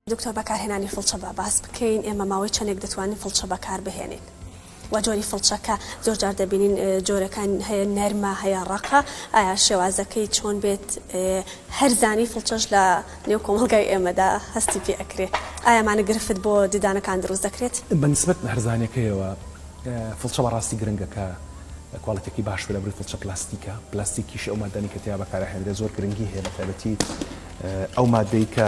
دکتۆر بەکارهێنانی فڵچە با باس بکەین ئێمە ماوەی چەندێک دەتوانین فڵچە بەکار بهێنین؟ وە جۆری فڵچە کە زۆر جار دەبینین جۆرەکان هەیە نەرمە هەیە ڕەقە ئایا شێوازەکەی چۆن بێت هەر زانی فڵچەش لە نێو کۆمەڵگای ئێمەدا هەستی پێ ئەکرێ ئایا مانە گرفت بۆ ددانەکان دروست دەکرێت؟ بە نسبەت بە هەرزانەکەیەوە فڵچە بەڕاستی گرنگە کە کواڵیتێکی باش بێ لە بڕی فڵچە پلاستیکە پلاستیکیش ئەو مادانی کە تیا بەکارهێنرێت زۆر گرنگی هەیە بە تایبەتی ئەو مادەی کە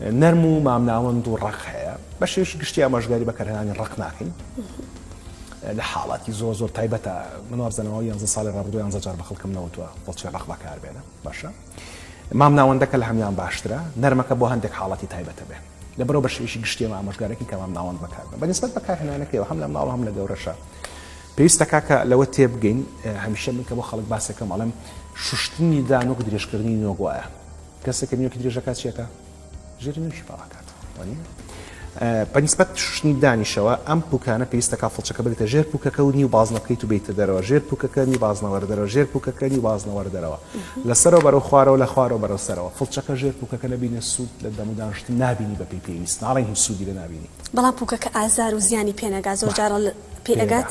نەرم و مامناوەند و ڕق هەیە بە شێوشی گشتی ئاماژگاری بەکارهێنانی ڕق ناکەین لە حاڵاتی زۆر زۆر تایبەتە منوازدەنەوە یانزە ساڵی ڕابردو یانزە جار بە خەڵکم نەوتوە بەڵچێ ڕق بەکار بێنە باشە مام ناوەندەکە لە هەمان باشترە نەرمەکە بۆ هەندێک حاڵەتی تایبەتە بێ لە بەرەو بە شێوشی گشتیمە ئامۆژگارێکی کە مام ناوەند بەکار بە نسبت بەکارهێنانەکەەوە هەم لە ماڵ هەم لە گەورەشە پێویستە کاکە لەوە تێبگەین هەمیشە من کە بۆ خەڵک باسەکەم ئەڵم شوشتنی دانۆک درێژکردنی نۆگوایە کەسێک کە نوێکی درێژ دەکات چیەکا؟ ژێری نوێکی باڵا کات وانیە؟ بە نیسبەت شوشتنی دانیشەوە ئەم پوکانە پێویستە کا فڵچەکە بریتە ژێر پوکەکە و نیو بازنە بکەیت و بیتە دەرەوە ژێر پوکەکە نیو بازنەوەرە دەرەوە ژێر پوکەکە نیو بازنەوەرە دەرەوە لەسەرەوە بەرەو خوارەوە لە خوارەوە بەرەو سەرەوە فڵچەکە ژێر پوکەکە نەبینە سوود لە دەم و دانشتن نابینی بە پێی پێویست ناڵێن هیچ سوودی لە نابینی بەڵام پوکەکە ئازار و زیانی پێنەگا زۆر جارە پێ ئەگات.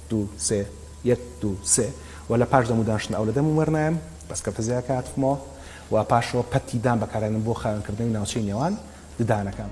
دوو سێ یەک دوو سێ وە لە پاش دەموو دانشتن ئاو لە دەمم وەرنایەم بەس کەوتە زێ کە هاتفمەوە وە پاشەوە پەتی دان بەکارێنم بۆ خاوێن کردنەوەی ناوچەی نێوان ددانەکان.